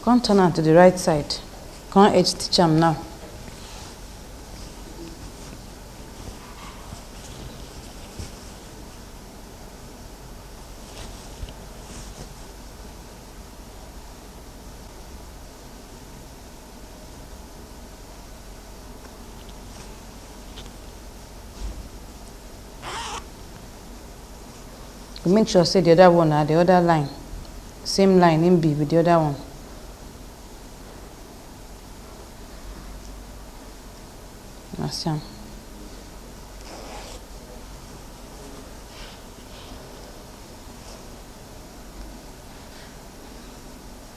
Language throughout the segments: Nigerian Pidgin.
come turn am to the right side come edge stitch am now you make sure say the other one na the other line same line im be with the other one na see am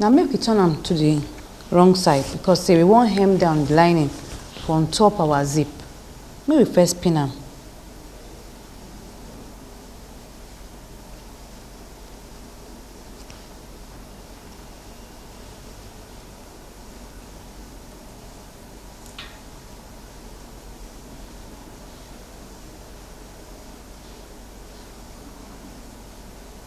Now make we turn am to the wrong side because say we wan hem down the lining for on top our zip. Make we first pin am.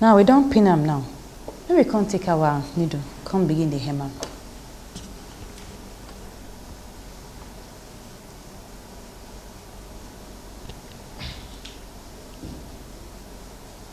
now we don pin am now make we come take our needle come begin dey hem am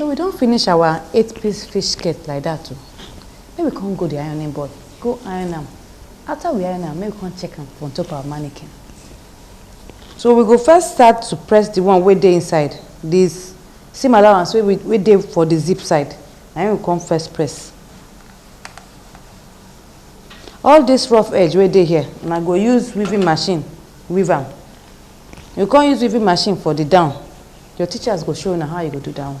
so we don finish our eight piece fish skirt like that too. Oh. make we come go the ironing board go iron am after we iron am make we come check am on top our mannequin. So we go first start to press the one wey dey inside this seam allowance wey wey dey for the zip side na him we come first press all this rough edge wey dey here una go use weaving machine weave am you come use weaving machine for the down your teachers go show una how you go do that one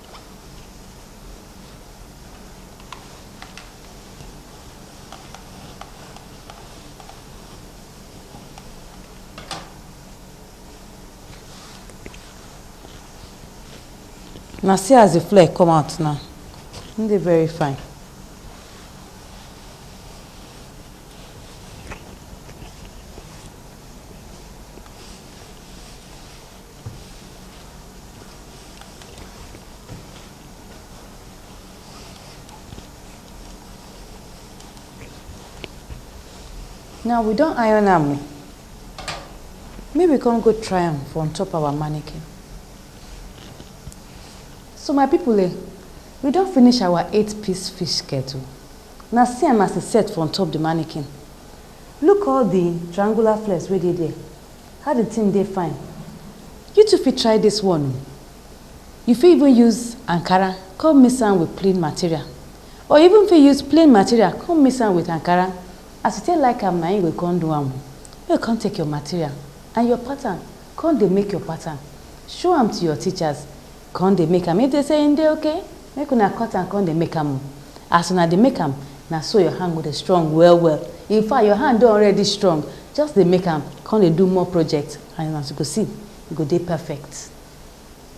na see as the flare come out now e dey very fine Now we don't iron am o. Make we come go try am for on top our mannequin. So my people eh, we don't finish our eight piece fish skirt o. Now see am as e set for on top the mannequin. Look all the triangular flares wey dey there. How the thing dey fine you too fit try this one o you fit even use ankara come mix am with plain material or you even fit use plain material come mix am with ankara as you take like am na im you go come do am o make you come take your material and your pattern come dey make your pattern show am to your teachers Kon dey make am, if dey say en dey okay, make una cut am kon dey make am o, as una dey make am, na so your hand go dey strong well well, in fact your hand don already strong, just dey make am kon dey do more project and as you go see, e go dey perfect.